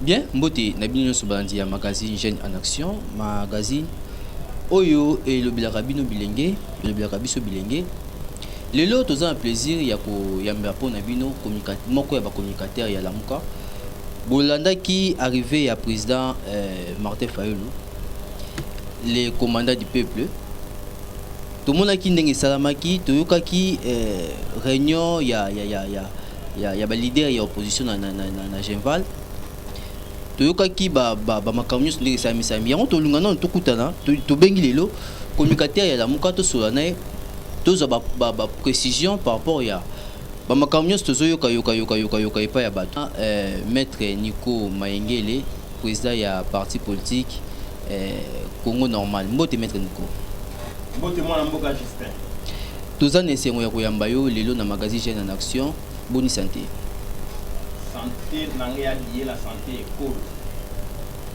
Bien, mbote na bino nyonso balandi ya magazine Jeune en Action, magazine oyo elobelaka bino bilenge, elobelaka biso bilenge. Lelo toza na plaisir ya koyambela mpo na bino moko ya bacommunicateur ya Lamuka. Bolandaki arrivée ya président euh, Martin Fayulu, le commandant du peuple. Tomonaki ndenge esalamaki, toyokaki euh, réunion ya, ya, ya, ya ya, ya ba leader ya opposition na, na, na, na, na Genval toyokaki bamakambo nyonso ndenge esamisami yango tolunga nano tokutana tobengi lelo communicateur ya lamuka tosola na ye tozwa baprécision par rapport ya bamakambo nyonso tozoyoka yoka yoka yoka yoka epai ya bato ah, eh, maître nico mayengele président ya parti politique eh, congo normal mbote maître nico mbote mwana mboka justin Toza na esengo ya koyamba yo lelo na Magazine Jeunes en Action. Boni sante? Sante na nga ya biyela sante ekolo.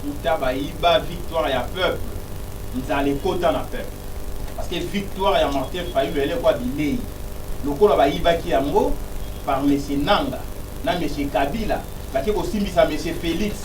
Uta bayiba victoire ya peuple, nzala ekota na peuple. Parce que victoire ya Martin Fayulu elekwa bileyi. Lokola bayibaki yango par Monsieur Nanga na Monsieur Kabila bake kosimbisa Monsieur Felix.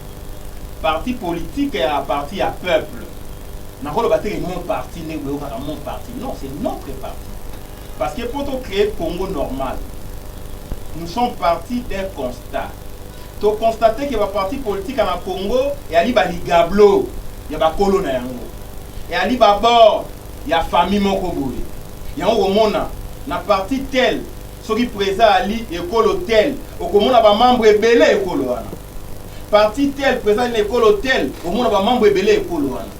Parti politique ya parti ya peuple. Nakoloba te que mon parti ndenge boyokaka mon parti non c'est notre parti parce que mpo to cree Congo normal nous sommes partis d'un constat to constate que ba parti politique na Congo eyali ba ligablo ya bakolo na yango eyali ba bord ya famille moko boye yango komona na parti tel Soki Preza ali ekolo tel, okomona ba membres ebele ya ekolo wana. Parti tel, Preza ali na ekolo tel, okomona ba membres ebele ya ekolo wana.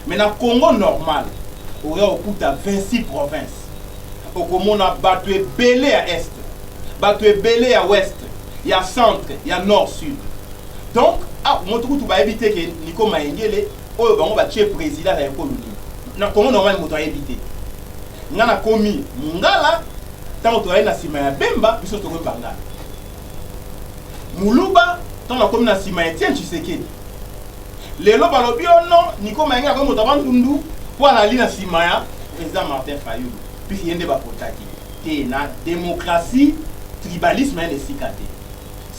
Mais na Congo normal, oya kokuta 26 provinces. Okomona batu ebele ya Est, batu ebele ya Ouest, ya Centre, ya Nord, Sud. Donc, ah, moto kutu bayebi te ke Nico Mayengele, oyo bango batie President na ekolo nini. Na Congo normal moto ayebi te. Nga na komi mungala tango tozali na sima ya Bemba biso tokomi bangala. Muluba tango na komi na sima ya Etienne Tshisekedi. Lelo balobi oh non Nico Mayenge akomi moto ya Bandundu po alali na sima ya president Martin Fayulu puisque ye nde ba potaki. Te na democratie tribalisme eza na esika te.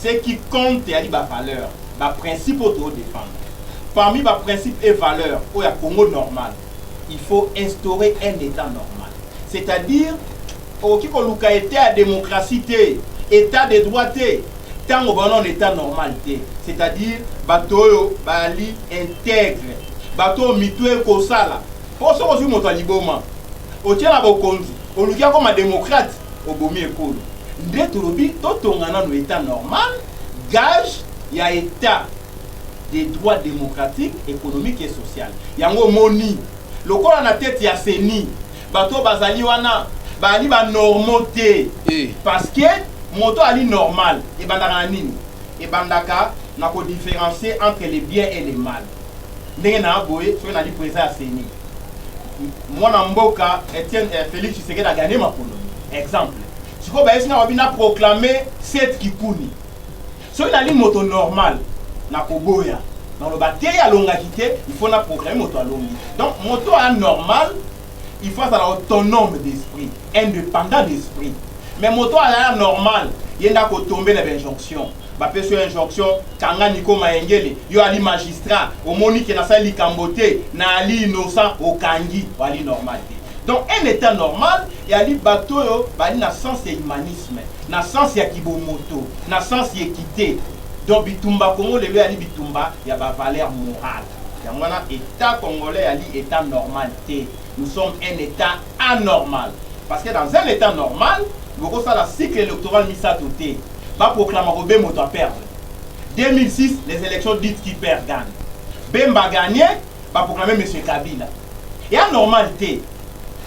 Ce qui compte ezali ba valeurs, ba principes oyo tozo defendre. Parmi ba principes et valeurs oyo ya Congo normal Il faut instaurer un etat normal. C'est à dire okoki koluka etat ya democratie te, etat de droit te tango baza nanu etat normal te. C'est à dire bato oyo baali integre, bato oyo mitu ekosala. Po soki ozwi moto ya liboma otie na bokonzi oluki akoma democrate, obomi ekolo. Nde tolobi totonga nanu etat normal, gage ya etat. des droits democratiques, economiques et sociales. Yango omoni, lokola na tete ya ceni, bato oyo bazali wana baali ba normaux te. Eh. Parce que moto ali normal ebandaka na nini? Ebandaka na ko differencier entre le bien et le mal. Ndenge na boye, soki nali president ya ceni, mwana mboka Etienne eh, Felix Tshisekedi a gagner maponomi. Exemple. Sikoyo bayesi nga wapi na proclamer Seth Kikuni. Soki nali moto normal na koboya na loba te alongaki te il faut na proclame moto alongi donc moto a normal il faut azala autonome d'esprit indépendant d'esprit mais moto azala normal ye nda kotombe na bainjonction bapesi yo injonction kanga niko mayengele yo ali magistrat omoni ke nasali likambo te na ali innocent okangi ali normal te donc un état normal eyali bato oyo bali na sens ya humanisme na sens ya kibomoto, na sens ya equite, donc bitumba Congo lelo eyali bitumba ya ba valeurs morales, yango wana etat congolais eyali etat normal te, nous sommes un etat anormal, parce que dans un etat normal boko sala cycle electoral misato te, ba proclama ko be moto a perdre 2006 les elections dites qui perd gagne, Bemba a gagne, ba proclamer monsieur Kabila ea normal te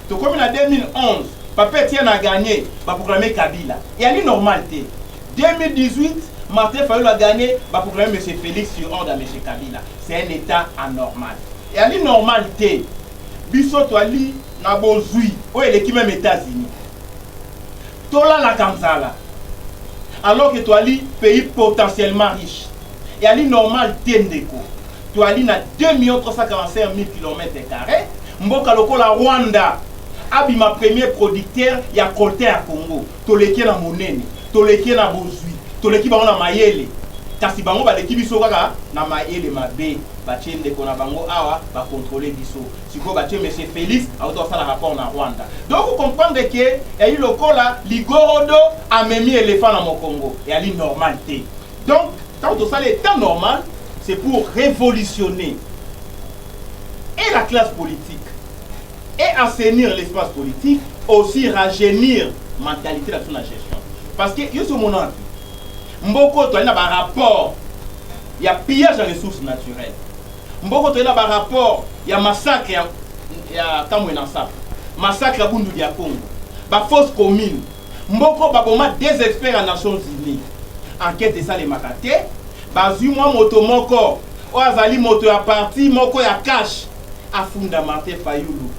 tokomi na 2011 papa Etienne a gagne ba proclamer Kabila eali normal te 2018 Martin Fayulu a gagne ba proclamer monsieur Felix sur ordre ya monsieur Kabila c'est un etat anormal eali normal te biso toali na bozui oyo eleki meme Etats-Unis tolalaka nzala alors que toali pays potentiellement riche eali normal te ndeko Toali na 2.345.000 kilomètre carre, mboka lokola Rwanda abima premier producteur ya coltan ya Congo. Toleki ye na monene, toleki ye na bozwi, toleki bango na mayele. Kasi bango baleki biso kaka na mayele mabe. Batie ndeko na bango awa ba controler biso. Sikoyo batie monsieur Felix awuta kosala rapport na Rwanda. Donc o comprendre que eali lokola ligorodo amemi elephant na mokongo. Eali normal te. Donc, tango tosala etat normal, c'est pour revolutionner et la classe politique et assainir l'espace politique, aussi rajeunir mentalité na biso na gestion. Parce que yo somona mboko toali na ba rapport ya pillage ya ressources naturelles. Mboko toali na ba rapport ya massacre ya ya Kamwena Nsapu, massacre ya Bundu ya Congo, ba fausses communes Mboko baboma deux experts ya Nations Unies, enquete esalemaka te, bazwi mwa moto moko oyo azali moto ya parti moko ya CACH afunda Martin Fayulu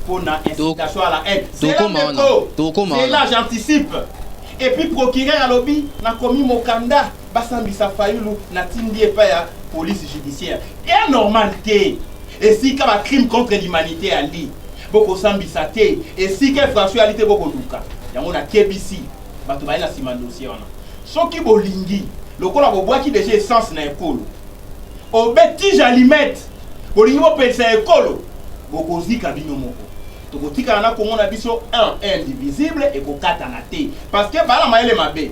mpo na incitation à la haine. Zela ndeko, zela j'anticipe. Et puis procureur alobi nakomi mokanda basambisa Fayulu natindi epai ya police judiciaire. Eya normal te esika ba crime contre l'humanité ali Boko sambisa te esika François ali te boko luka yango na kebisi bato baye na sima dossier wana soki bolingi lokola bobwaki deja essence na ekolo obe tige alimete bolingi bopelisa ekolo bokozika bino moko tokotikala na Congo na biso un indivisible ekokatana te parce que bala mayele mabe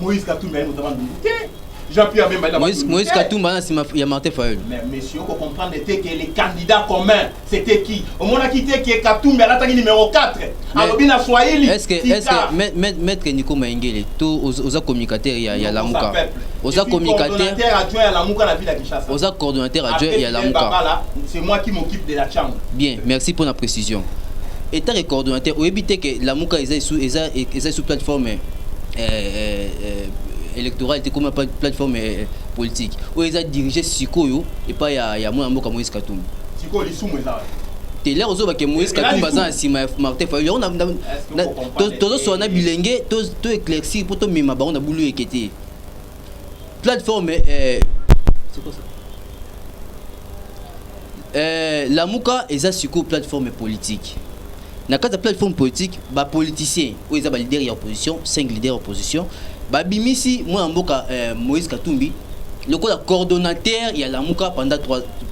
Moïse Katumbi aye motema ndungu te. Jean-Pierre Bemba aye Moïse, Moïse Katumbi aye sima ya Martin Fayulu. Mais monsieur, ko comprendre te que les candidats communs c'était qui? Omonaki te que Katumbi alataki numéro 4. Alobi na Swahili. Est-ce que est-ce que maître Nico Maingele to oza communicateur ya ya Lamuka. Oza communicateur adjoint ya Lamuka na ville ya Kinshasa. Oza coordonnateur adjoint ya Lamuka. C'est moi qui m'occupe de la chambre. Bien, merci pour la précision. État que coordonnateur, oyebi te que Lamuka eza eza eza sous plateforme. electoral te ekoma plateforme eh, politique oyo eza dirige sikoyo epai ya, ya mwana mboka moïse katumbi sikoyo lisumu eza te lere ozoba ke moïse katumbi aza na nsima ya martin fayulu yango tozoswana bilenge to éclaircir mpo tomema bango na bulu eke te Plateforme eh, c'est quoi ça? Eh, Lamuka eza siko plateforme politique. Na kati ya plateforme politique, ba politiciens oyo eza ba leader ya opposition, 5 leader ya opposition, ba bimisi mwana mboka eh, Moïse Katumbi lokola coordonnateur ya Lamuka pendant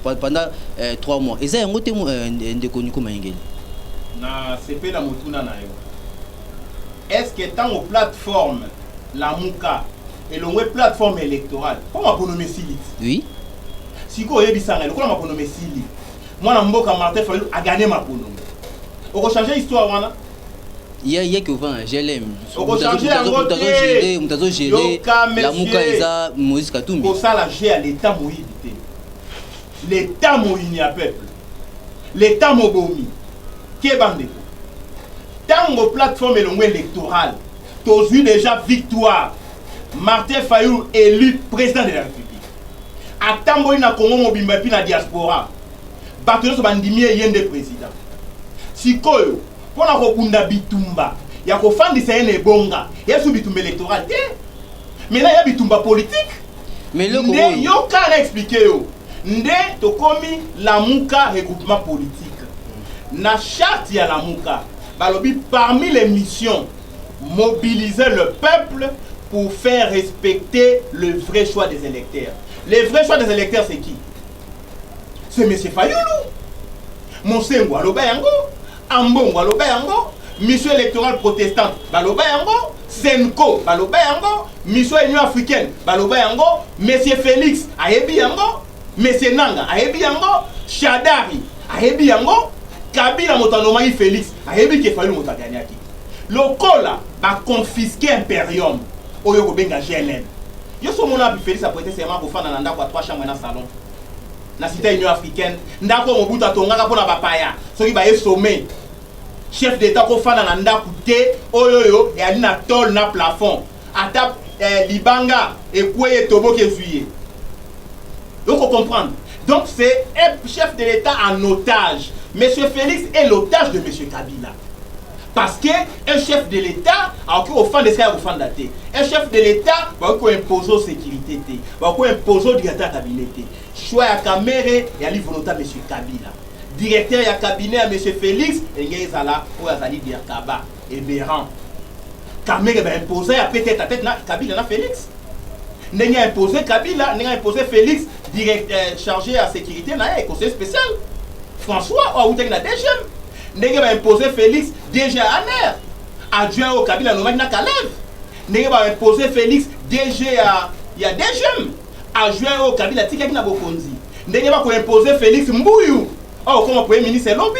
3 pendant eh, 3 mois. Eza yango te eh, ndeko Nico Mayengeli. Na sepela motuna na yo. Est-ce que tango plateforme Lamuka elongwe plateforme electorale mpo maponomi esili oui. Sikoyo oyebisa ngai lokola maponomi esili, mwana mboka Martin Fayulu agane maponomi, okochange histoire wana ya ya kiovana glm okochange yango te moto azogere lamuka eza moïse katumbi kosala jeu ya leta moyibi te leta moyini ya peuple leta mobomi keba ndeko ntango plateforme elongo électorale tozwi deja victoire martin fayulu élu président de la république atamboli na congo mobimba epuis na diaspora bato nyonso bandimi ye ye nde président sikoyo mpo na kobunda bitumba ya kofandisa ye na ebonga yesu bitumba électoral te mena ya bitumba politique nde yoka na explike yo nde tokomi lamuka regroupement politique na charte ya lamuka Balobi parmi les missions mobiliser le peuple pour faire respecter le vrai choix des électeurs. Le vrai choix des électeurs c'est qui? C'est monsieur Fayulu. Monsengo aloba yango, Ambongo aloba yango, mission électorale protestante baloba yango, Senko baloba yango, mission Union africaine baloba yango, monsieur Félix ayebi yango, Monsieur Nanga ayebi yango, Shadary ayebi yango, Kabila moto a nomaki Felix ayebi que Fayulu moto a gagnaki. Lokola ba confisquer imperium oyo oko benga GLM. Yo si omona wapi Felix a preter serment ako fanda na ndaku ya trois chambres na salon? Na cite ya Union africaine, ndaku oyo Mobutu a tongaka pona ba paya soki baye sommet. Chef d'etat oko fanda na ndaku te oyo oyo eali na tol na plafond. ata eh, libanga ekweyi etoboki ezwi ye oko comprendre donc c'est un chef de l'état en otage monsieur félix est l'otage de monsieur kabila parce que un chef de l'état akoki kofanda esika ya kofanda te un chef de l'état bakoki koimpose o sécurité te bakoki koimpose o directeur ya cabinet te choix ya kamere eyali volonta monsieur kabila directeur ya cabinet ya monsieur félix elingaki ezala oyo azali derkaba eberan Kamere ba imposa ya peut-être à tête na Kabila na Felix. Ndenge a imposé Kabila, ndenge a imposé Felix, direct, euh, chargé à sécurité na ye, conseil spécial. François, oyo awutaki na DGM. Ndenge ba imposé Felix, DG Amer. Adjoint oyo Kabila anomaki na Kalev. Ndenge ba imposé Felix, DG ya, ya DGM. Adjoint oyo Kabila atikaki na bokonzi. Ndenge bakoimpose Felix Mbuyu oyo okoma premier ministre lobi.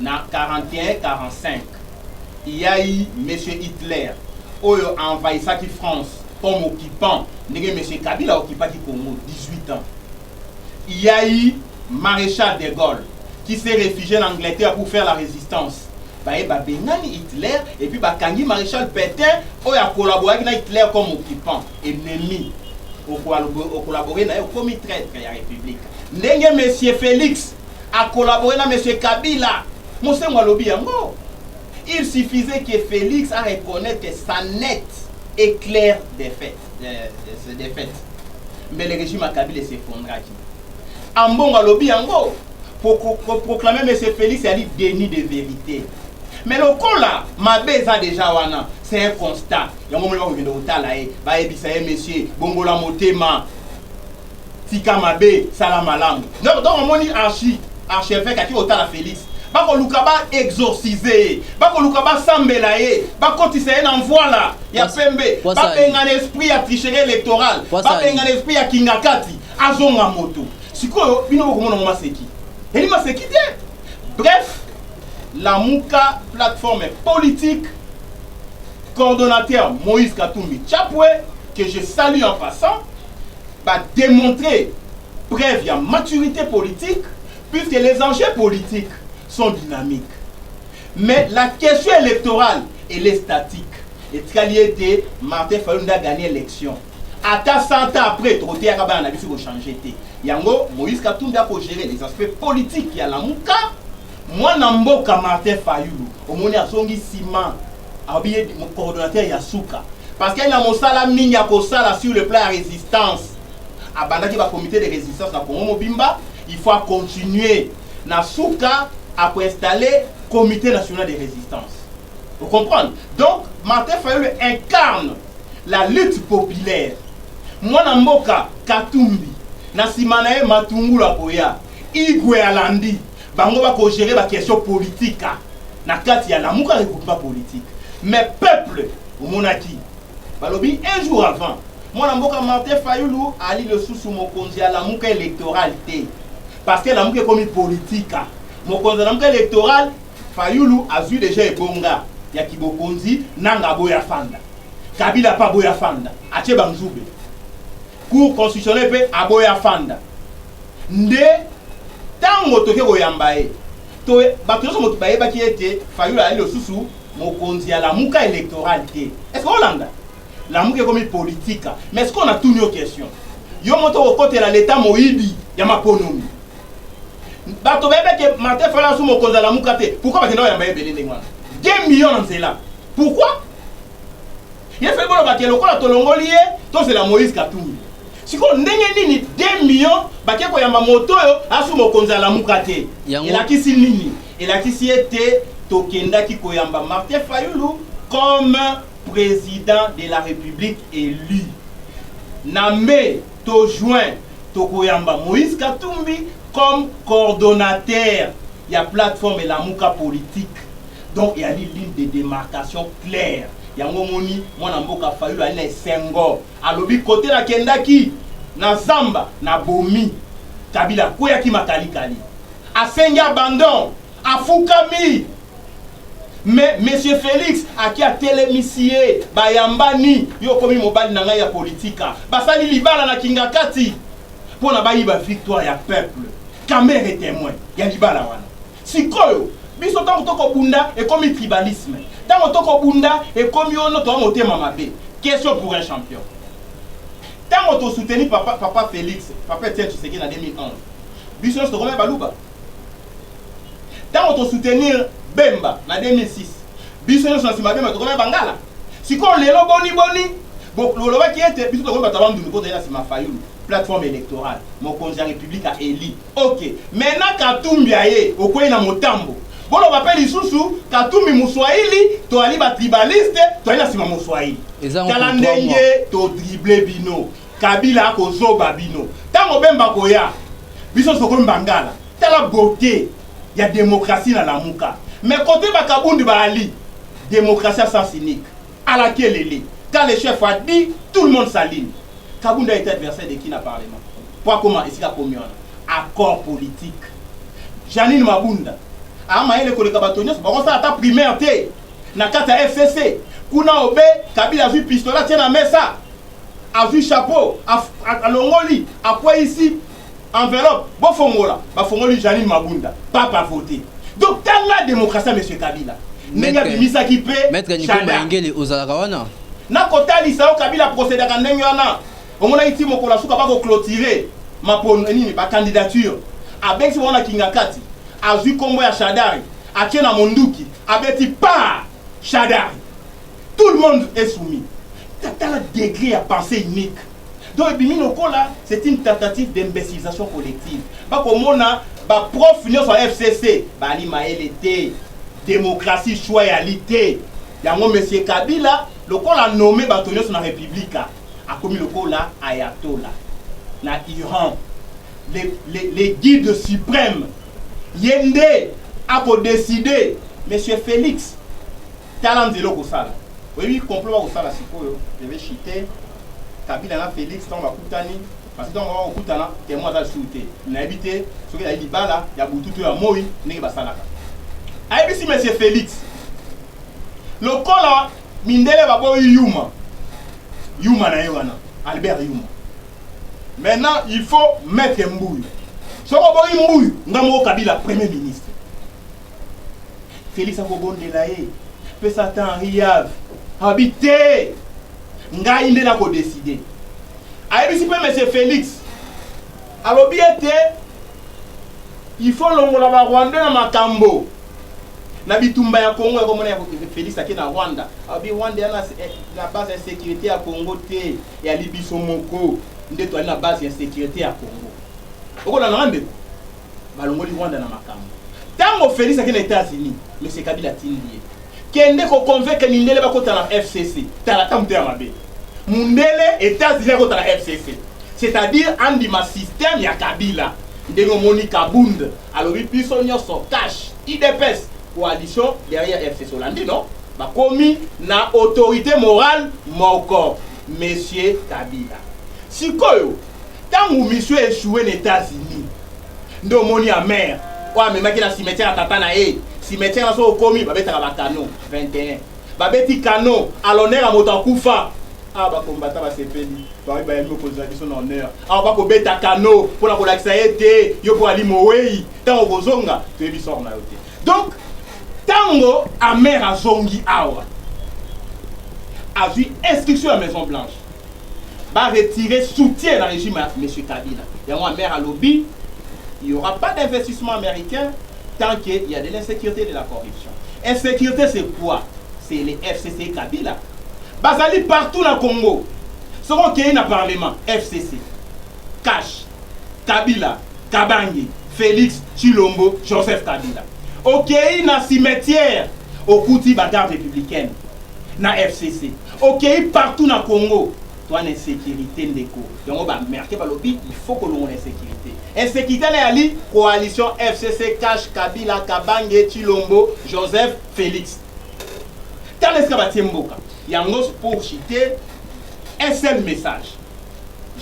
Na 41-45, ya i Monsieur Hitler oyo a envahissaki France comme occupant ndenge Monsieur Kabila a occupaki Congo 18 ans. Il ya i Marechal de Gaulle qui s'est refugie na Angleterre pour faire la resistance. Baye ba bengani Hitler et puis ba kangi Marechal Petain oyo a collaboraki na Hitler comme occupant, ennemi. O collaborer na ye okomi traitre ya Republique. Ndenge Monsieur Felix. A collaborer na monsieur Kabila. Mosengwo alobi yango. Il suffisait que Felix a reconnaître que sa net est clair défaite. Euh, c'est défaite. Mais le régime à Kabila s'effondraki. Ambongo alobi yango. Pour, pour, pour proclamer monsieur Felix, il y a dit déni de vérité. mais lokola mabe eza deja wana c'est un constat yango moni bakokende kotala ye bayebisa ye monsieur bongola motema Tika mabe sala malamu. Donc donc omoni archi archevêque aki otala Felix. Bakoluka ba exorciser ye. Bakoluka basambela ye. Bakotisa ye na mvwala ya Wasa- pembe. wasa- Babengana esprit ya tricherie électorale. Wasa- Babengana esprit ya kingakati. Azonga moto. Sikoyo bino bokomona ngo maseki. Eli maseki te. Bref, Lamuka plateforme politique coordonnateur Moïse Katumbi Chapwe, que je salue en passant, ba demontrer preuve ya maturite politique puisque les enjeux politiques sont dynamiques mais la question électorale elle est statique etikali ete Martin Fayulu nde agagner élection ata 100 ans après tokoteyaka bana na biso kochanger te yango Moïse Katumbi akogere les aspects politiques ya Lamuka Mwana mboka Martin Fayulu omoni azongi sima alobi ye coordonnateur ya suka parce que na mosala mingi ya kosala sur le plan ya resistance abandaki ba comité de resistance na Congo mobimba il faut a continuer na suka a ko installer comité national de resistance vous comprenez donc Martin Fayulu incarne la lutte populaire mwana mboka Katumbi na sima na ye Matungulu akoya Igwe alandi bango bako gérer ba question politique ah. na kati ya lamuka regroupement politique mais peuple omonaki balobi un jour avant mwana mboka martin fayulu ali lisusu mokonzi ya lamuka électoral te parce que lamuka ekomi politique ah. mokonzi ya lamuka électoral fayulu azwi deja ebonga ya kibokonzi nanga aboya fanda kabila mpe aboya fanda atie banzube Cour constitutionnelle mpe aboya afanda nde ntango toke koyamba ye to bato nyonso moto bayebaki ete Fayulu ayali lisusu mokonzi ya lamuka electoral te. Est-ce que olanda? Lamuka ekomi politika. Mais est-ce qu'on a tuni yo question? Yo moto okotela l'etat moyibi ya maponomi. Bato bayebaki ke Martin Fayulu asu mokonzi ya lamuka te. Pourquoi bakenda koyamba ye ebele ndenge wana? 2 millions na nzela. Pourquoi? Ye fallait boloba ke lokola tolongoli ye tozela Moïse Katumbi. Sikoyo ndenge nini 2 millions bake koyamba moto oyo asu mokonzi alamuka te? Yango- Elakisi nini? Elakisi ete tokendaki koyamba Martin Fayulu comme president de la Republique élu. Na mai to juin tokoyamba Moïse Katumbi comme coordonnateur ya plateforme Lamuka politique. Donc eyali ligne de demarcation claire. Yango omoni mwana mboka Fayulu ali na esengo. Alobi kote na kendaki na zamba na bomi. Kabila akweyaki makalikali. Asengi abandon. Afukami. Mais monsieur Felix aki atelemisi ye bayambani yo okomi mobali na ngai ya politika. Basali libala na Kingakati mpo na bayiba victoire ya peuple. Kamere temoin ya libala wana. Sikoyo biso tango to ko bunda ekomi tribalisme tango to ko bunda ekomi ono toa motema mabe question pour un champion tango to soutenu papa papa Felix papa Etienne Tshisekedi na 2011 biso nionso tokomi baluba tango to soutenir Bemba na 2006 biso nionso na sima Bemba tokomi bangala sikoyo lelo boni boni bolobaki ete biso tokomi bato ya bandundu mpo tozali na sima Fayulu plateforme electorale mokonzi ya republika eli Ok mais na katumbi aye okweyi na motambo boloba pe lisusu katumbi muswahili toali ba tribaliste toali na sima muswahili tala ndenge to drible bino kabila ako zoba bino tango bemba koya biso soko mbangala tala beaute ya demokrasi na lamuka mais kote ba kabundi baali demokrasi ya sens unique Ala kelele quand le chef a dit tout le monde s'aligne kabunda est adversaire de qui na parlement po akoma esika akomi wana accord politique Janine Mabunda a mayele koleka bato nyonso bakosala ata primaire te na kati ya FCC kuna obe Kabila azwi pistolet atie na mesa azwi chapeau alongoli akweyisi Enveloppe bo fongola ba fongoli Janine Mabunda pape a vote donc tanga democratie ya monsieur Kabila ndenge abimisaki pe Maître Nikomba Engele ozalaka wana? Nako talisa yo Kabila procedaka ndenge wana omonaki ti mokolo ya suka bako clotire mapono eh, nini ba candidature abengisi bango na Kingakati azwi kombo ya Shadari atie na monduki abeti pa Shadari tout le monde est soumis tala degré ya pensée unique donc ebimi lokola c'est une tentative d'imbécilisation collective bakomona baprof nyonso ya fcc bali mayele te démocratie choix ya li te yango monsieur kabila lokola nome bato nyonso na republika akomi lokola ayatola na iran le, le, le guide suprême ye nde akodeside monsieur félix Tala nzela okosala. Oyebi complot bakosala sikoyo, je vais chiter Kabila na Felix ntango bakutani parce que ntango bako kokutana témoin aza lisusu te. Nayebi te soki ezali libala ya butu to ya moi ndenge basalaka. Ayebisi monsieur Felix lokola mindele baboyi yuma yuma na ye wana Albert Yuma. Maintenant il faut mettre mbuyu. Soki oboyi mbuyu nga moko Kabila premier ministre. Felix akobondela ye mpe Satan Henri Yave abi te ngai nde nakodeside. Ayebisi mpe Monsieur Felix alobi ete il faut longola ba Rwandais na makambo na bitumba ya Congo ya komona ya Felix ake na Rwanda alobi Rwanda yana eh, na base ya sécurité ya Congo te ya libiso moko nde toali na base ya sécurité ya Congo okolanda nanga ndeko balongoli Rwanda na makambo. Tango Felix ake na Etats-Unis, Monsieur Kabila atindi ye, kende ko convaincre mindele bakota na FCC. Tala ata motema mabe. Mundele Etats-Unis akota na FCC. C'est-à-dire andima système ya Kabila. Ndenge omoni Kabund alobi biso nyoso cash, IDPS, coalition derrière FCC. Olandi non? Bakomi na autorité morale moko, Monsieur Kabila. Sikoyo Tango mission e echoue na Etats-Unis nde omoni ya mère oyo amemaki na cimetière ya tata na ye cimetière na soki okomi babetaka ba canon 21 babeti canon à l'honneur ya moto akufa awa bakombata basepeli baoyi bayambi mokonzi na biso na honneur awa bakobeta kano mpo na kolakisa ye te yo mpo ali mowei ntango okozonga toyebi sor na yo te donc ntango amere azongi awa azwi instruction ya maison blanche ba retirer soutien na regime ya monsieur Kabila yango ya maire alobi il y aura pas d'investissement américain tant qu'il y a de l'insécurité et de la corruption insécurité c'est quoi c'est les FCC Kabila bazali partout na Congo soki okei na parlement FCC Cash Kabila Kabangi Félix Chilombo Joseph Kabila okei na cimetière okuti bagarde républicaine na FCC Okeyi partout na congo toi na insecurite ndeko yango ba merke balobi il faut kolongola insecurite insecurite na yali coalition fcc cash kabila kabange chilombo joseph felix tala esika batie mboka yango pour chite un seul message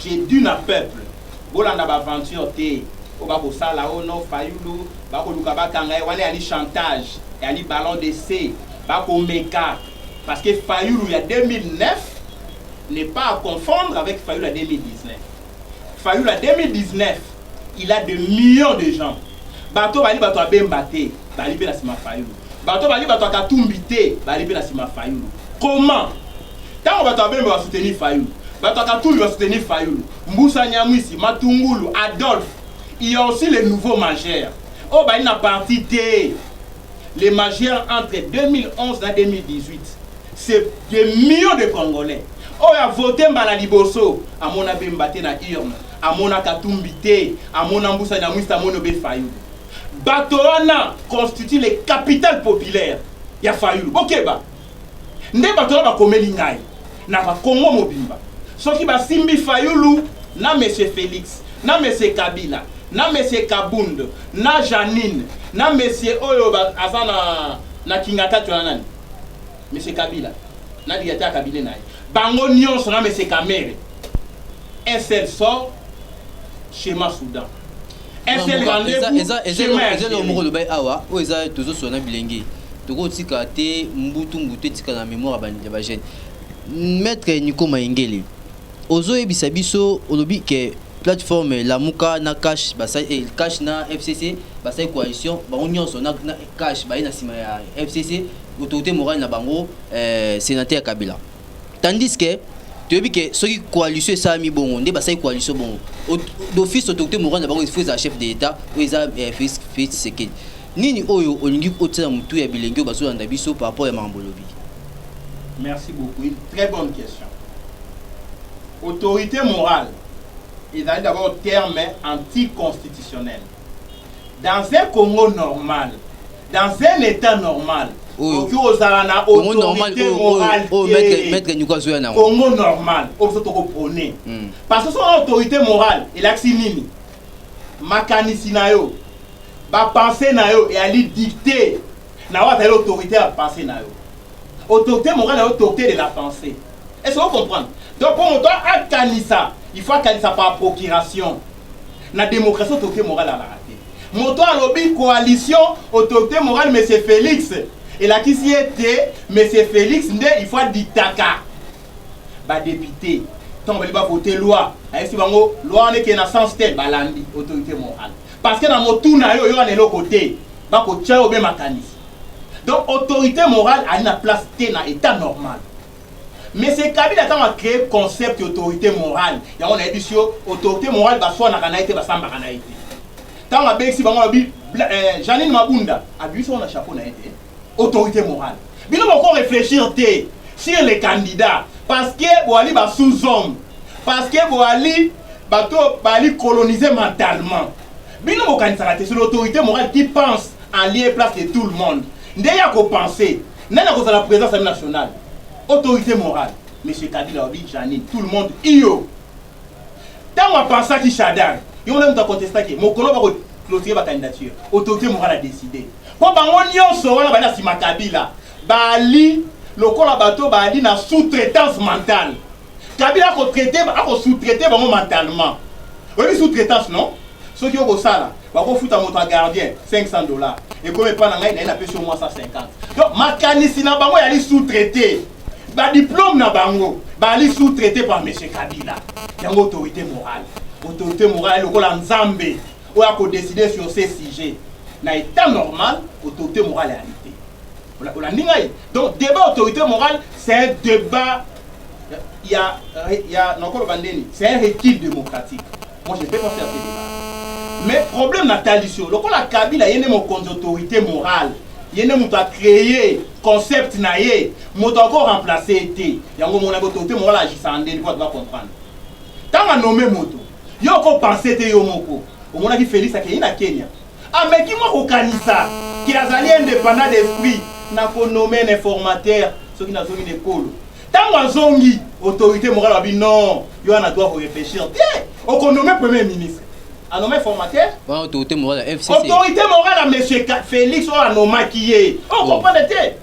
j'ai dû na peuple bolanda baaventure te oyo bakosala oyo oh no fayulu bakoluka bakanga ye wana yali chantage yali ballon de c bakomeka Parce que Fayulu ya 2009 n'est pas à confondre avec Fayulu ya 2019. Fayulu ya 2019, il a des millions de gens. Bato bali bato ya Bemba te, bali mpe na nsima Fayulu. Bato bali bato ya Katumbi te, bali mpe na nsima Fayulu. Comment? Ntango bato ya Bemba ba soutenir Fayulu, bato ya Katumbi ba soutenir Fayulu, Mbusa Nyamwisi, Matungulu, Adolphe, il y a aussi les nouveaux majeurs. Oyo bali na parti te. Les majeurs entre 2011 na 2018 c'est des millions de congolais oyo a vote mbala liboso amona bemba te na urne amona katumbi te amona mbusa nyamwista amoni obe fayulu bato wana constitue le capital populaire ya fayulu bokeba nde bato wana bakomeli ngai na bakongo mobimba soki basimbi fayulu na monsieur felix na monsieur kabila na monsieur kabund na janine na monsieur oyo aza na, na kingatatu na nani monsieur kabila na directeur ya kabine na ye bango nyonso na monsieur kamere un seul sort chez ma soudan ezalelo moko lobai awa oyo eza tozosola na bilenge tokotika te mbutu mbutu etikala na memoire ya bajeune maître niko mayengele ozoyebisa biso olobi ke plateforme lamuka na cash basali eh, cash na fcc basali coalition bango nyonso na, na cash baye na nsima ya fcc autorité morale na bango eh, sénateur kabila tandis que toyebi ke soki coalition esalami bongo nde basali coalition bongo d'office autorité morale na bango faut ezala chef de l'état oyo eza eh, félix tshisekedi nini oyo olingi otyela motu ya bilenge oyo bazolanda biso par rapport ya makambo olobi merci beaucoup une très bonne question autorité morale ezali d'abord terme anticonstitutionnel Dans un Congo normal, dans un etat normal, Oyo. okoki kozala na Congo normal autorité oyo- oyo- morale oyo te. maître- maître Nyuka azoya na yango. Congo normal oyo biso tokoprone Mm. parce que soki oza autorité morale elakisi nini makanisi na yo bapense na yo eyali dicte na oyo azali autorité ya bapense na yo autorité morale na yo autorité de la pensée est ce que ocomprendre donc mpo moto akanisa il faut akanisa par procuration Na democratie autorite morale azalaka te. Moto oyo alobi coalition autorite morale monsieur Felix elakisi ete monsieur Felix nde il faut adictaka ba deputes ntango balingi ba voter loi ayebisi bango loi wana ekende na sens tel balandi autorite morale parce que na motu na yo oyo wana eloko te bakotya yo obe makanisi donc autorite morale ali na place te na etat normal Mais c'est Kabila tango a créé concept ya autorité morale yango nayebisi yo autorité morale baswanaka na ye te basambaka na ye te ntango abengisi bango alobi eh, Janine Mabunda abimisi yango na chapeau na ye te autorité morale bino boko réfléchir te sur les candidats parce que boali ba sous-hommes parce que boali bato bali coloniser mentalement bino bokanisaka te c'est l'autorité morale qui pense en lieu place de tout le monde nde ya kopense Nani akozala president assemblée nationale? Autorité morale. Monsieur Kabila alobi Janine, tout le monde iyo. Ntango apansaki Shadari, yo mona moto akontestaki mokolo bako clôturer ba candidature. Autorité morale a décidé. Mpo bango nyonso wana bali na nsima Kabila bali lokola bato bali na sous-traitance mentale. Kabila ako traite ako sous traite bango mentalement oyebi sous traitance non soki oko sala bako futa moto ya gardien 500 dollars ekomi epa na ngai naye napesi yo mwa 150 donc makanisi na bango yali sous traite ba diplome na bango bali sous traite par monsieur Kabila yango autorité morale autorité morale lokola nzambe oyo ako décider sur ces sujets na état normal autorité morale ya olandi ngai donc debat autorité morale c'est un debat ya ya nakoloba ndeni c'est un recul démocratique moi je ne peux pas faire ce débat mais problème natalisi yo lokola kabila ye nde mokonzi autorité morale ye nde moto acreye concept na ye moto ako remplace ye te yango omonaki autorité morale agisaka ndeni po atoka comprendre ntango anome moto yo okopense te yo moko omonaki félix akei na kenya Ameki mwa kokanisa ke azali independant d'esprit na ko nommer un informateur soki nazongi na ekolo. Tango azongi, autorite morale alobi non, yo wana droit ya ko reflechir te, oko nommer premier ministre. A nommer informateur? Wana autorite morale ya FCC. Autorite morale ya monsieur Felix oyo a nommaki ye. O comprendre te?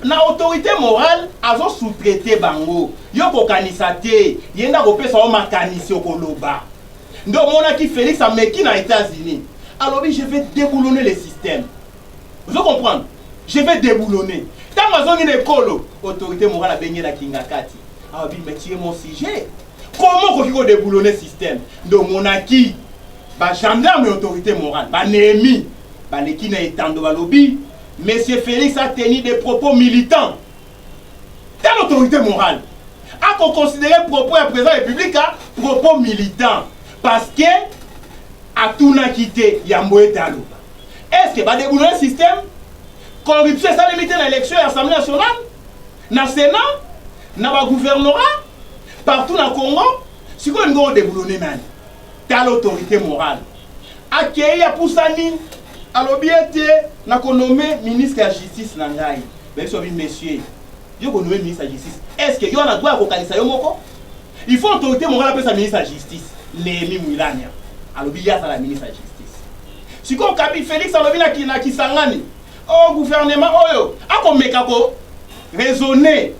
na autorité morale azo sous-traiter bango yo kokanisa te ye nde akopesa yo makanisi okoloba nde omonaki Felix ameki na Etats-Unis alobi je vais déboulonner le système ozo comprendre je vais déboulonner ntango azongi na ekolo autorité morale abengi na kingakati alobi mais tu es mon sujet comment okoki ko déboulonner système nde omonaki ba gendarme ya autorité morale banemi baleki na etando balobi monsieur Felix a tenu des propos militants Tala autorité morale ako considérer propos ya président république a propos militant parce que atunaki te yambo ete aloba est ce que ba deboulonner système corruption esalemi te na élection ya assemblée nationale na sénat na ba gouvernorat partout na congo sikoyo olingi odeboulonner nani Tala autorite morale. Akeyi apusani alobi ete na ko nomme ministre ya justice na ngai. Bayebisi babi monsieur yo ko nomme ministre ya justice est-ce que yo wana droit ya kokanisa yo moko? Il faut autorite morale apesa ministre ya justice. Nehemie Mwilanya alobi ye azala ministre ya justice. Sikoyo Kabi Felix alobi na na Kisangani oh gouvernement oyo akomeka ko raisonner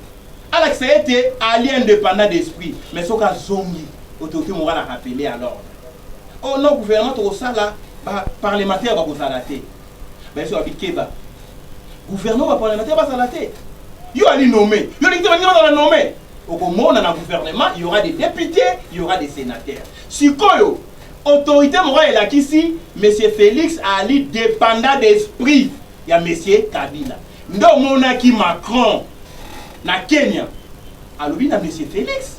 Alakisa ete ali independant d'esprit mais soki azongi autorite morale a rappeler à l'ordre. Or non gouvernement tokosala ba parlementaires bakozala te. Bayesu babi keba gouvernement ba parlementaires bazala te. Yo ali nomme, yo olingi te baninga bazala nomme. Okomona na gouvernement il y aura des députés, il y aura des sénateurs. Sikoyo autorité morale elakisi monsieur Felix ali dependant d'esprit ya monsieur Kabila. Nde omonaki Macron na Kenya alobi na Monsieur Felix,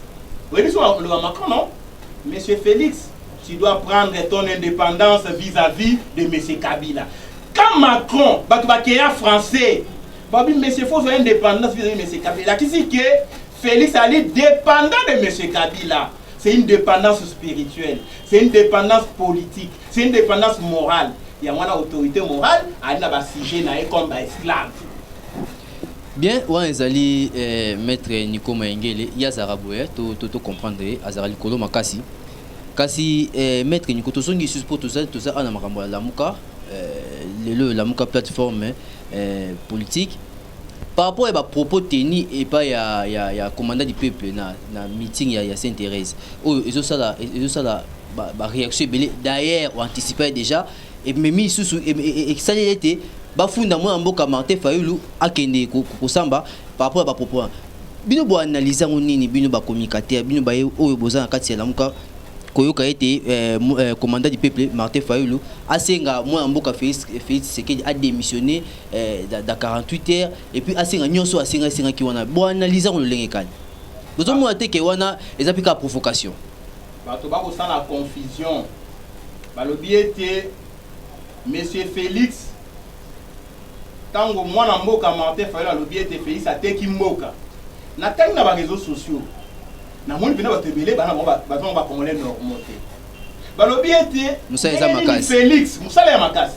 oyebi so aloba Macron non? Monsieur Felix, tu dois prendre ton indépendance vis-à-vis -vis de Monsieur Kabila. Quand Macron, bato bakeya français, babi Monsieur faut faire indépendance vis-à-vis -vis de Monsieur Kabila. Lakisi que Felix ali dépendant de Monsieur Kabila. C'est une dépendance spirituelle, c'est une dépendance politique. C'est une dépendance morale. Yango wana autorité morale ali na ba sujet na ye comme ba esclaves. bien wana ezali eh, maître nico mayengele ye azalaka boye to, to, to comprendre ye azalaka likolo makasi kasi eh, maître nico tozongi lisusu mpo toza toza awa na makambo ya lamuka eh, lelo oyo lamuka plateforme eh, politique Par rapport ya ba propos tenus epai ya, ya, ya commandant du peuple na, na meeting ya, ya Sainte Therèse oyo ezosala ezosala ba, ba reaction ebele d'ailleurs o anticiper déjà ememi lisusu esali ete bafunda mwana mboka Martin Fayulu akende kosamba par rapport ya ba propos wana bino bo analyse yango nini bino ba communicateurs bino baye oyo boza na kati ya lamuka koyoka ete eh, eh, commandant du peuple Martin Fayulu asenga mwana mboka Felix Felix Tshisekedi a démissionner eh, da, da 48 heures et puis asenga nyonso asenga esengaki wana boanalyse yango lolenge kani bozomona te ke wana eza mpe kaka provocation bato bakosala confusion balobi ete monsieur félix ntango mwana mboka martin fayol alobi ete félix ateki mboka natangi na bareseau sociaux namoni mpena bato ebele bana bango bato bango bacongolais normal te balobi ete félix mosala ya makasi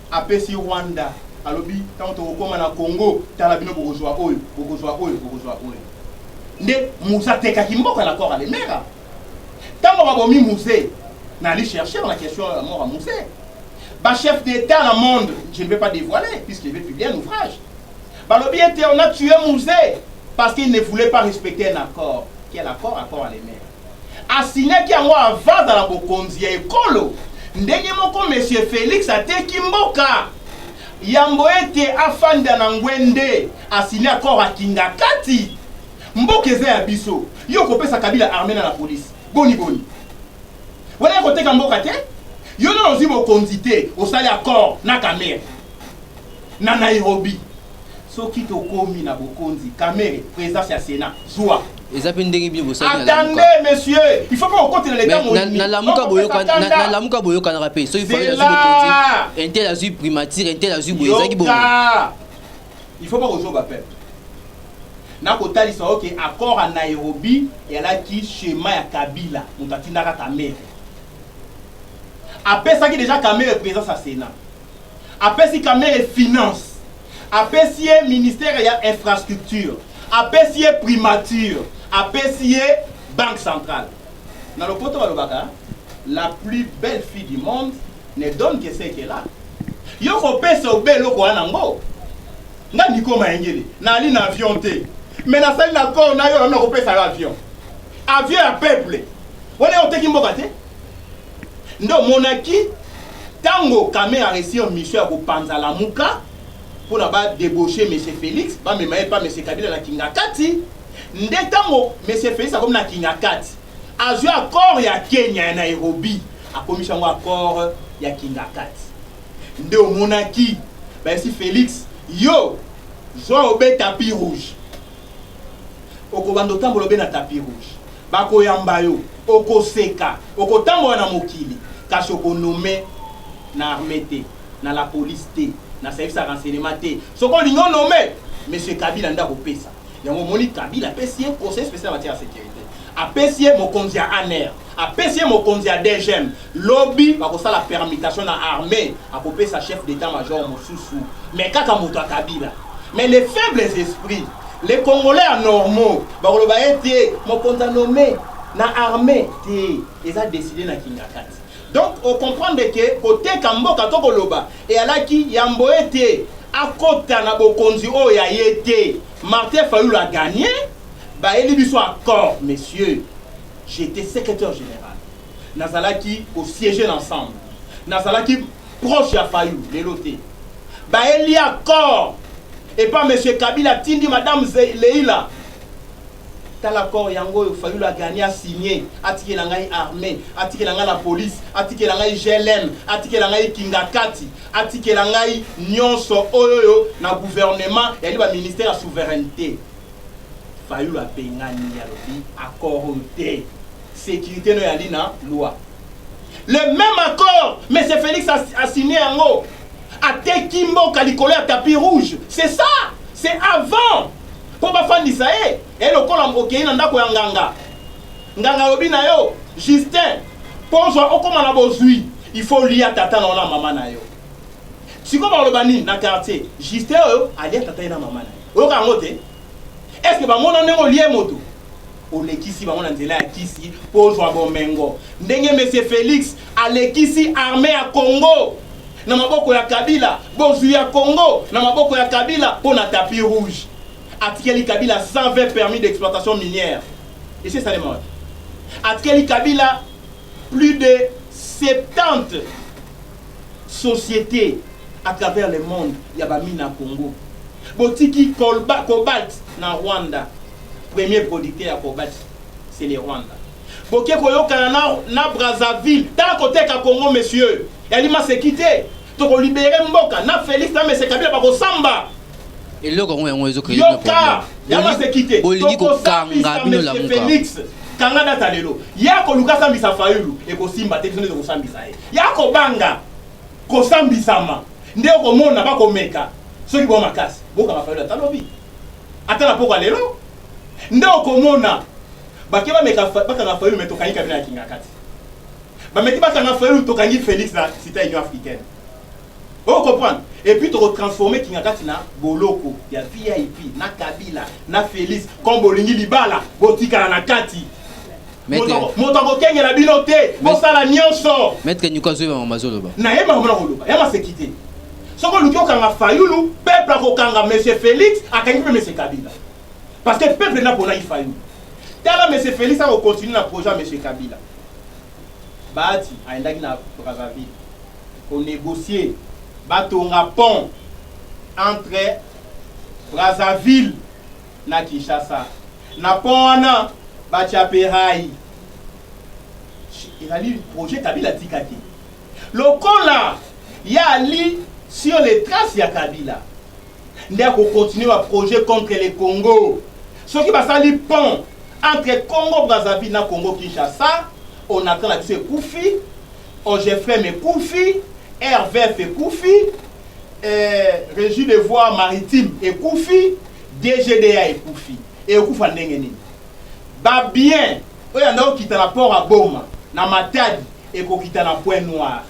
apesi Rwanda alobi ntango tokokoma na Congo tala bino bokozwa oyo bokozwa oyo bokozwa oyo nde musa atekaki mboka na kora lemera ntango babomi muse nali chercher na question ya mort ya muse bachef d'état na monde je ne vais pas dévoiler puisque je vais publier un ouvrage balobi ete on a tué muse parce qu'il ne voulait pas respecter un accord quel accord accord ya lemera A signaki yango avant azala mokonzi ya ekolo. Ndenge moko monsieur Felix ateki mboka. Yambo ete afanda na ngwe nde a signer accord ya kingakati? Mboka eza ya biso. Yo okopesa Kabila armee na la police. Boni boni. Wana ya koteka mboka te. Yo nanu ozui bokonzi te osali accord na Kamerhe na Nairobi. Soki tokomi na bokonzi, Kamere, presidence ya Senat, zua. Eza pe ndenge bino bosali na lamuka. Attendez monsieur, il faut pas okotela leta mo. Na na lamuka boyoka na na lamuka boyoka na pe. Soki fali na zuko konti, intel azui primature, intel azui boye ezaki bongo. Il faut pas kozoba pe. Na kotalisa oke okay, accord à Nairobi elaki schéma ya Kabila, moto atindaka Kamere. Apesaki déjà Kamere présence à Sénat. apesi kamere finance apesi ye ministere ya infrastructure apesi ye primature apesi ye banque centrale na lopoto balobaka la plus belle fille du monde ne donne que ce qu'elle a yo kopesa obe eloko wana yango nga niko mayengele nali na avion te me nasali na kor na yo nanu nakopesa yo avion avion ya peuple wana oteki mboka te nde omonaki tango Kamere a reussir mission ya kopanza Lamuka pona ba debaucher monsieur Felix bamema ye epa monsieur Kabila na Kingakati nde tango monsieur Felix akomi na Kingakati azwi accord ya Kenya ya Nairobi akomisi yango accord ya Kingakati nde omonaki bayesi Felix yo zwa obe tapis rouge okobanda otambola obe na tapis rouge Bakoyamba yo, okoseka, okotambola na mokili, kasi oko nommer na armee te, na la police te, na service ya renseignement te. Soki olingi o nommer, monsieur Kabila nde akopesa. Yango omoni Kabila apesi ye conseiller special en matière ya securite, apesi ye mokonzi ya ANR, apesi ye mokonzi ya DGM, Lobi bakosala permutation na armee akopesa chef d'etat major mosusu mais kaka moto ya kabila mais les faibles esprits les congolais ya normaux bakoloba ete mokonzi a nomme na armee te eza decide na kingakati donc ocomprendre ke koteka mboka to koloba eyalaki yambo ete akota na bokonzi oyo ya ye te martin fayulu aganye bayeli biso accord monsieur j'étais secrétaire général nazalaki ko siège na ensemble nazalaki proche ya fayu lelo te baeli accord epa monsieur kabila atindi madame Ze- leila tala accord yango oyo fayulu agani asigne atikela ngai armée atikela ngai la police atikela ngai glm atikela ngai kingakati atikela ngai nyonso oyo oyo na gouvernement yali baministère ya souveraineté fayulu abengani ye alobi accord oyo te securite no yali na loi le même accord monsieur félix asigne yango ateki mboka likolo ya tapis rouge c'est ça c'est avant mpo bafandisa ye e lokola okei na ndako ya nganga nganga alobi na yo justin mpo ozwa okóma na bozwi il faut lia tata na yo na mama na yo sikoyo baloba nini na quartier justin oyo alia tata ye na mama na ye oyoka yango te est ce que bamona ndenge olie moto olekisi bango na nzela ya kisi mpo ozwa bomengo ndenge monsieur felix alekisi arme ya congo na maboko ya kabila bozwi ya congo na maboko ya kabila mpo na tapi rouge atikeli kabila 120 permis d'exploitation minière esi esalema wapi atikeli kabila plus de 70 societe à travers le monde ya ba mina Congo botiki colba cobalt na Rwanda premier producteur ya cobalt c'est le Rwanda boke koyokana na na Brazzaville tala koteka Congo monsieur yali maseki te toko libere mboka na Felix na mese Kabila bakosamba eloko yango yango ezo créer yoka ya maseki te bolingi kokanga bino lamuka Felix kanga data lelo ya koluka sambisa Fayulu ekosimba te biso nde tokosambisa ye Ya kobanga kosambisama nde okomona bakomeka soki bo makasi bokanga fayulu ata lobi ata na pokwa lelo nde okomona bake bameka bakanga fayulu me tokangi kabila na kingakati bameki bakanga fayulu tokangi felix na sita union africaine o comprendre et puis tokotransforme kingakati na boloko ya vip na kabila na felix comme bolingi libala botikala na kati moto akokengela bino te bosala nyonso maître nyuka azoyeba makambo azoloba naye makambo na koloba ya maseki te soki oluki okanga fayulu peuple akokanga monsieur félix akangi mpe monsieur kabila parce que peuple naponaki fayulu tala monsieur félix akocontinue na projet ya monsieur kabila baati ayendaki na brazzaville konegocie batonga pont entre brazzaville na Kinshasa na pont wana batia pe rail ezali projet Kabila atika te lokola ya ali sur les traces ya Kabila nde akokontinue baprojet contre le Congo. Soki basali pont entre Congo Brazzaville na Congo Kinshasa, on attend la biso ekufi, OGFM ekufi, RVF ekufi, eh, Régie de voies maritimes ekufi, DGDA ekufi ekokufa ndenge nini? Ba bien oyo yanda kokita na port ya Boma na Matadi ekokita na point noir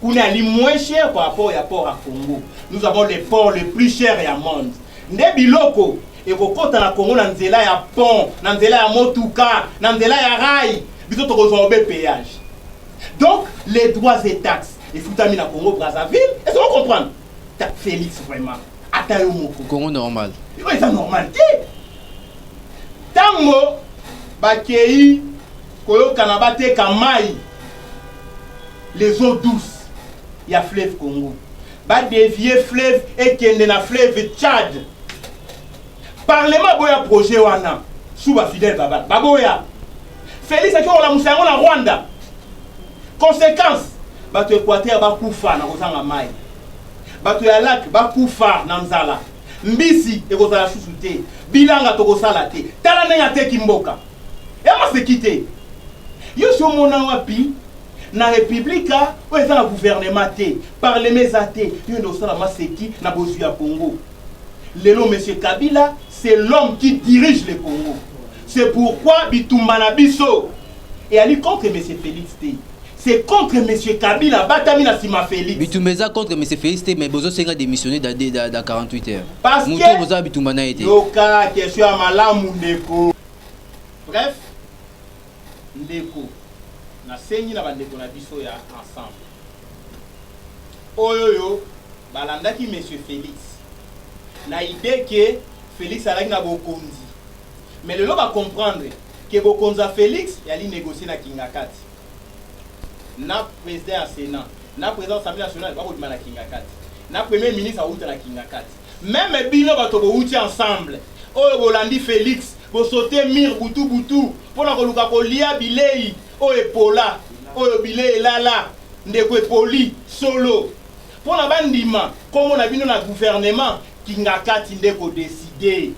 kuna ali moins cher par rapport ya port ya Congo. Nous avons le port le plus cher ya monde nde biloko ekokota na Congo na nzela ya pont na nzela ya motuka na nzela ya rail biso tokozwa obe payage donc les droits et taxes efutami na Congo Brazzaville est-ce que vous comprenez? Félix vraiment ata yo moko congo normal yo eza normal te ntango bakei koyokana bateka mai les eaux douces ya fleuve congo badevie fleuve ekende na fleuve tchad parlement aboya projet wana suba fidèle babal baboya felix akei kolamusa yango na rwanda conséquence bato equateur bakufa na kozanga mai Bato ya lac bakufa na nzala. Mbisi ekozala susu te. Bilanga tokosala te. Tala ndenge ateki mboka. Ya maseki te. Yo si omona wapi na republika oyo eza na gouvernement te, parlement eza te, yo nde osala maseki na bozwi ya Congo. Lelo monsieur Kabila c'est l'homme qui dirige le Congo. C'est pourquoi bitumba na biso Eyali contre monsieur Felix te c'est contre monsieur Kabila abatami na sima Felix. Bitumba eza contre monsieur Felix te mais bozo senga démissionner da da, da 48 heures. Parce que mutu boza bitumba na ye te. Yoka question ya malamu ndeko. Bref ndeko nasengi na bandeko na biso ya ensemble oyo yo balandaki monsieur Felix na idee ke Felix alaki na bokonzi Mais lelo ba comprendre que bokonzi ya Felix eali negocier na Kingakati. Na president ya Senat, na president ya Assemblee nationale bako bima na Kingakati. Na premier ministre awuta na Kingakati. Meme bino bato bowuti ensemble oyo bolandi Felix bo sauter mur butu butu pona koluka kolia bileyi oyo epola, oyo bileyi elala ndeko epoli solo. Pona ba ndima kombo na bino na gouvernement Kingakati nde eko decider.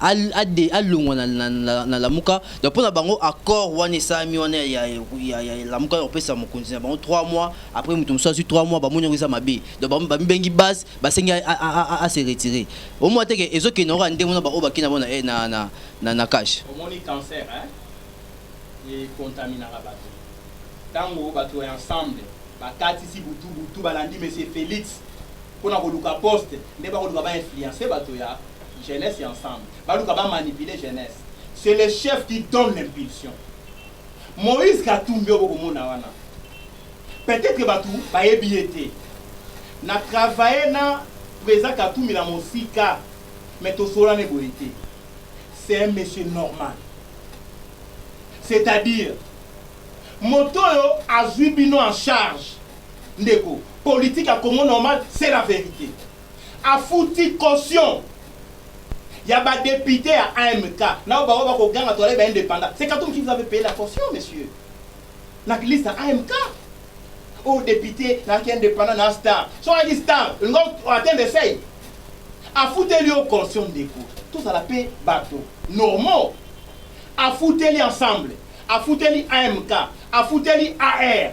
alongwa na lamuka donc mpo na bango accord wana esalami wana ya lamuka ya kopesa mokonzi na bango 3 mois après moto mosusu azwi 3 mois bamoni yango eza mabe donc bamibengi base basengi ase retire omwa teke ezokende yango ya ndenge wana baoyo bakei na bango eh, na cache omoni cancer ekontaminaka bato ntango bato ya ensemble bakatisi butu butu balandi monsieur félix mpo na koluka poste nde bakoluka bainfluence bato ya Jeunesse ya ensemble baluka ba manipuler jeunesse. C'est le chef qui donne l'impulsion. Moïse Katumbi oyo bokomona wana peut-être bato bayebi ye te na travaille na président Katumbi na mosika mais tosolana eboye te c'est un monsieur normal c'est-à-dire moto oyo azwi bino en charge ndeko politique ya Congo normal c'est la vérité Afuti caution ya ba deputes ya AMK nao bango bako ganga tozali ba independants. C'est Katumbi qui vous avait paye la caution monsieur. Na liste ya AMK. Oh depute na ki independant na star. So a ki star, ngo atteindre seuil. Afuteli yo caution ndeko. Tozala pe bato normaux. Afuteli ensemble. Afuteli AMK. Afuteli AR.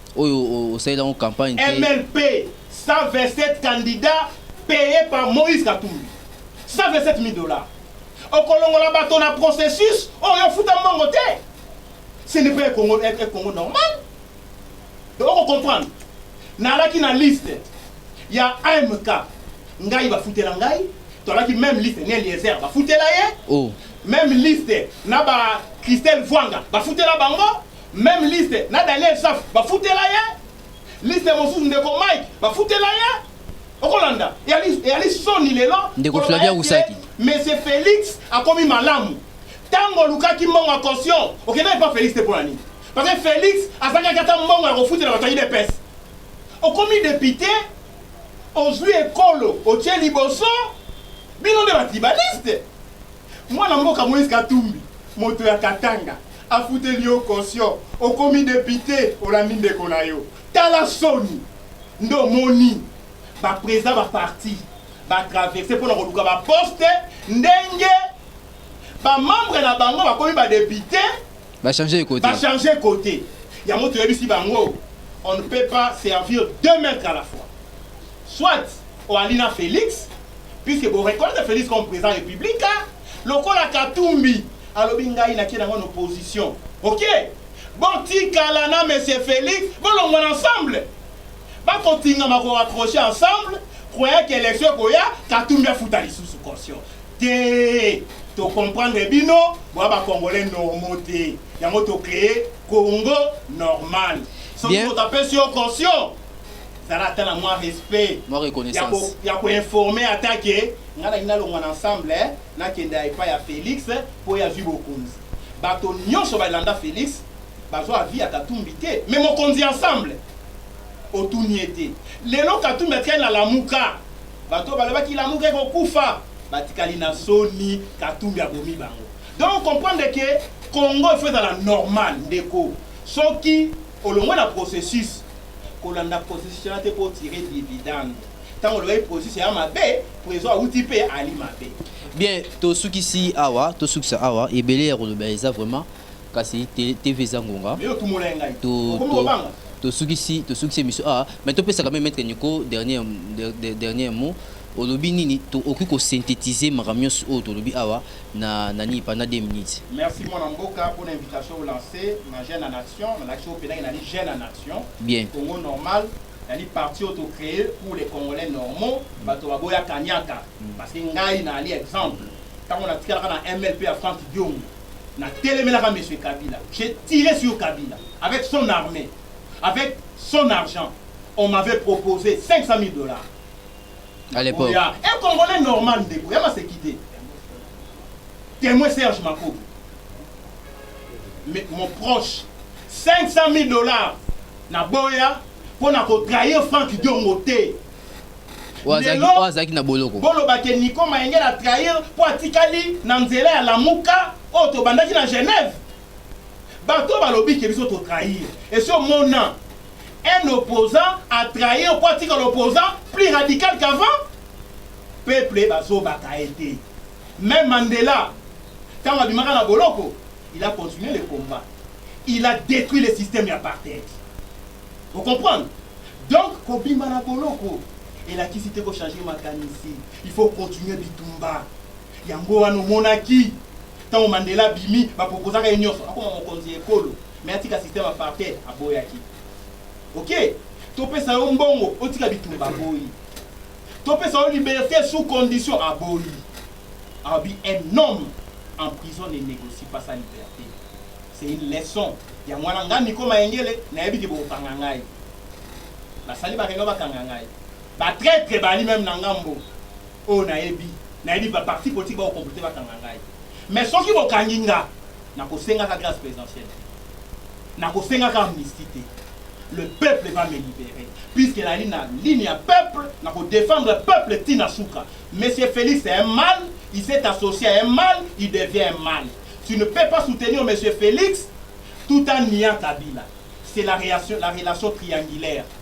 oyo osaleli yango campagne te. MLP 127 candidats payes par Moïse Katumbi 127 000 dollars. Okolongola bato na processus oyo ofuta mbongo te. Ce n'est pas un Congo, un Congo normal. Donc oko comprendre. Nalaki na liste ya AMK ngai bafutela ngai tolaki même liste ne Eliezer bafutela ye oh. même liste na ba Christelle Vwanga bafutela bango Meme liste na Daniel Safu bafutela ye liste mosusu ndeko Mike bafutela ye okolanda eyali soni lelo ndeko Flavia Rusaki Monsieur Felix akomi malamu ntango olukaki mbongo ya caution okendaki mpa Felix te mpo na nini parce que Felix azangaki ata mbongo ya kofutela bato ya udps okomi depute ozwi ekolo otie liboso bino nde batribaliste Mwana mboka Moïse Katumbi moto ya Katanga afuteli yo caution okomi depute olandi ndeko na yo tala soni nde omoni ba president ba parti ba traverse mpo na koluka ba poste ndenge ba membre na bango bakomi ba depute ba changer kote ba changer kote yango toyebisi bango on ne peut pas servir deux maîtres à la fois soit Oali na Felix puisque bo reconnaître Felix comme president republique lokola Katumbi alobi ngai na kie na ngo na opposition ok bo tikala na monsieur Felix bo longwa na ensemble ba ko tingama ko raccrocher ensemble croyant que election koya Katumbi afuta lisusu caution te to comprendre bino bo ba congolais normaux te yango to créer Congo normal soki moto apesi yo caution zala ata na mwa respect mwa reconnaissance ya koinforme ata ke ngai nalingi nalongwa na ensemble eh, nakende ya epai ya felix mpo oyo azwi bokonzi bato nyonso balanda felix bazwa avi ya katumbi te me mokonzi ensemble otuni ye te lelo katumbi atikali na lamuka bato oyo balobaki lamuka ekokufa batikali na soni katumbi abomi bango donc comprendre ke congo efo ezala normal ndeko soki Olongwe na processus kolanda processus wana te mpo otire dividende ntango olobaki processus ya mabe prezo awuti mpe ali mabe bien tosukisi awa tosukisa awa ebele ya koloba eza vraiment kasi tv eza ngonga tosukisi tosukisi emission awa mais topesaka me maître nico dernier, dernier mot olobi nini okoki kosynthétise makambo nyonso oyo tolobi awa na nani pendant deux minutes. Merci mwana mboka pona invitation o lance na jeune en action na lakisi yo penake nali jeune en action bien Congo normal nali parti oyo to cree pour les congolais normaux mm. bato baboya kaniaka mm. parce que ngai na ali exemple ntango natikalaka na mlp ya frank diongo na telemelaka monsieur kabila j'ai tiré sur kabila avec son armée avec son argent on m'avait proposé 500 000 dollars à l'époque. Il y a un Congolais normal, il y a ma séquité. Témoin Serge Mako. Mais mon proche, 500 000 dollars, na boya, pour na trahir Franck Diongo te. azalaki na boloko boloba ke niko mayenge na trahir mpo atikali na nzela ya lamuka oyo oh, tobandaki na genève bato balobi ke biso totrahir esi omona Un opposant a trahi oko atikala opposant plus radical qu'avant? Peuple bazobaka ye te. Meme Mandela tango abimaka na boloko il a continue le combat. Il a detruit le systeme ya apartheid. O comprendre? Donc kobima na boloko elakisi te ko changer makanisi. Il faut continuer bitumba. Yango wana omonaki tango Mandela abimi ba proposaka ye nionso akoma mokonzi ya ekolo mais atika système apartheid aboyaki. Ok topesa yo mbongo otika bitumba aboyi. Topesa yo liberte sous condition aboyi. Abi un homme en prison ne negocie pas sa liberte. C'est une leçon. Yango wana nga Nico Mayengele nayebi ke bokokanga ngai. Basali ba reunion bakanga ngai. Ba traitre bali meme na ngambo. Oyo nayebi, nayebi ba partis politiques bako comploter bakanga ngai. Mais soki bokangi nga, nakosengaka grace presidentielle te, nakosengaka amnistie te. Le peuple va me liberer puisque nazali na ligne ya peuple, nako defendre peuple ti na suka. Monsieur Felix c'est un mal, il s'est associe à un mal, il devient un mal. Tu ne peux pas soutenir monsieur Felix tout en niant Kabila. C'est la relation triangulaire.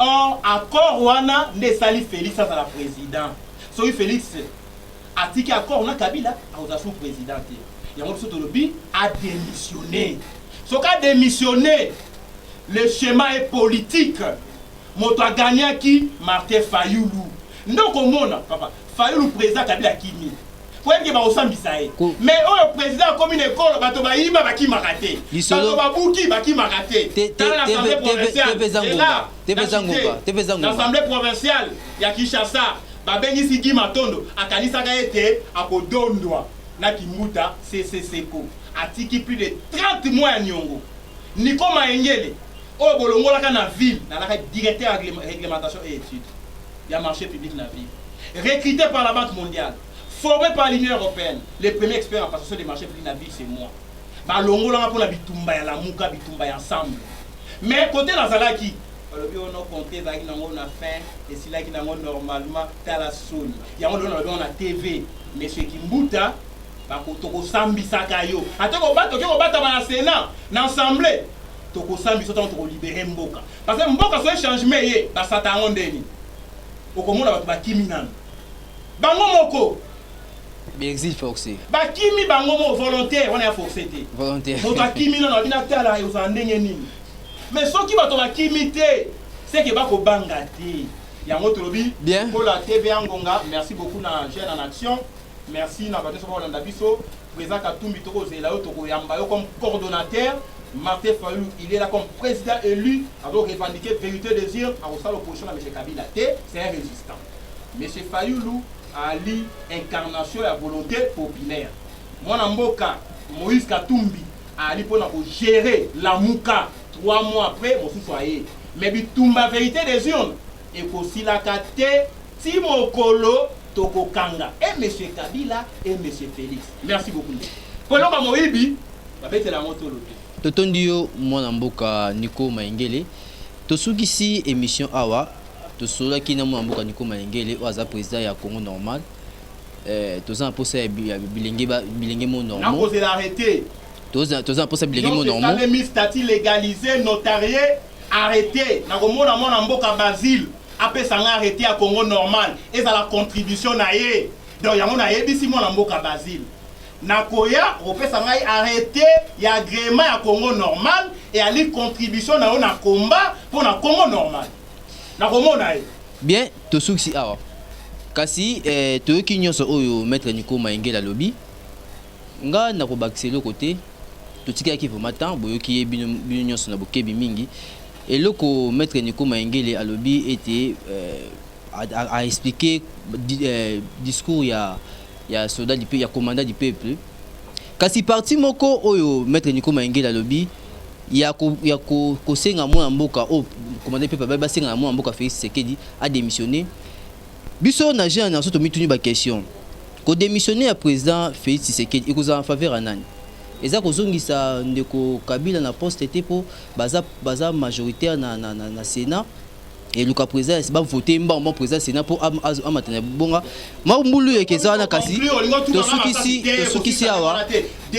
Or accord wana nde esali Felix azala president. Soki Felix atiki accord na Kabila akozala sous president te. Yango biso tolobi a demissionner. Soki a demissionner, le schéma est politique. Moto a gagnaki Martin Fayulu. Nde okomona papa Fayulu president Kabila akimi poyebike bakosambisa ye mais oyo president akomi na ekolo bato bayiba bakimaka te bato babuki bakimaka te tala na assemblée provinciale na assemblée provinciale ya kinshasa babengisi gi matondo akanisaka ete akodondwa na kimbuta seseseko atiki plus de 30 mois ya niongo niko mayengele oyo bolongolaka na ville nalaka directeur ya réglementation et étude ya marche public na ville recrute par la banque mondiale forme par l'union européenne le premier expert en passation de marche public na ville c'est moi balongolanga mpo na bitumba ya lamuka bitumba ya ensemble mais kote nazalaki balobi oyo no compte ezalaki nango na fin esilaki nango normalement tala soni yango lelo nalobi yango na tv monsieur kimbuta tokosambisaka yo ata oke kobatama na senat na assemble tokosambisa ntango tokolibere mboka Parce que mboka soki changement eye basata yango nde nini? Okomona bato bakimi nanu bango moko. Bexil force. Bakimi bango mo volontaire wana ya force te. Volontaire. Moto akimi nano abina tala ozala ndenge nini. Mais soki bato bakimi te seke bakobanga te. Yango tolobi kola TV ya ngonga. Merci beaucoup na jeune en action. Merci na ba nioso ba landa biso. President Katumbi toko zela yo toko yamba yo comme coordonnateur. Martin Fayulu il est là comme président élu azo revendiquer vérité des urnes akosala opposition na monsieur Kabila te c'est un résistant. Monsieur Fayulu ali incarnation ya volonté populaire. Mwana mboka Moïse Katumbi ali pona ko gérer lamuka 3 mois après mosusu aye. Mais bitumba vérité des urnes Ekosilaka te ti mokolo tokokanga et monsieur Kabila et monsieur Felix. Merci beaucoup ndeko. Po eloko ya moyibi babetela yango tolo te. Totondi yo mwana mboka Nico Mayengele. Tosukisi emission awa. Tosololaki na mwana mboka Nico Mayengele oyo aza president ya Congo normal. Eh, toza na posa ya bi- ya bilenge ba- bilenge mo normal. Nakozela arrete. Toza toza na posa ya bilenge mo Donc, normal. esalemi statut legalisé, notarié, Arrete na komona mwana mboka Basil apesa nga arrete ya Congo normal ezala contribution na ye donc yango nayebisi mwana mboka Basil nakoya opesa ngai arrete ya agrema ya Congo normal eyali contribution na yo na combat mpo na Congo normal nakomona ye bien tosukisi awa kasi eh, toyoki nyonso oyo maître Nico Maingela alobi Nga nako bakisa eloko te totikalaki vraiment temps boyoki ye bino bino nyonso na bokebi mingi eloko maitre Nico Mayengele alobi ete euh, a, a, a expliquer di, euh, discours ya ya soldat du peuple ya commandant du peuple kasi parti moko oyo maitre Nico Mayengele alobi ya ko, ya ko, kosenga mwana mboka oyo commandant du peuple abai basenga na mwana mboka Felix Tshisekedi a démissionner Biso na jeune na soto mituni ba question. Ko demissionner ya president Felix Tshisekedi ekozala en faveur ya nani? Eza kozongisa ndeko Kabila na poste te po baza baza majoritaire na na na, na Senat et luka president ba voter mbango mbango president Senat po am- azo- amata na bonga. Ma mbulu yeke eza wana kasi tosukisi tosukisi awa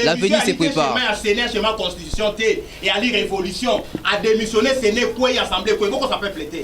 l'avenir se prépare. ya Sénat chez ma constitution te et ali révolution a démissionner Sénat kwe assemblée kwe boko sa peuple te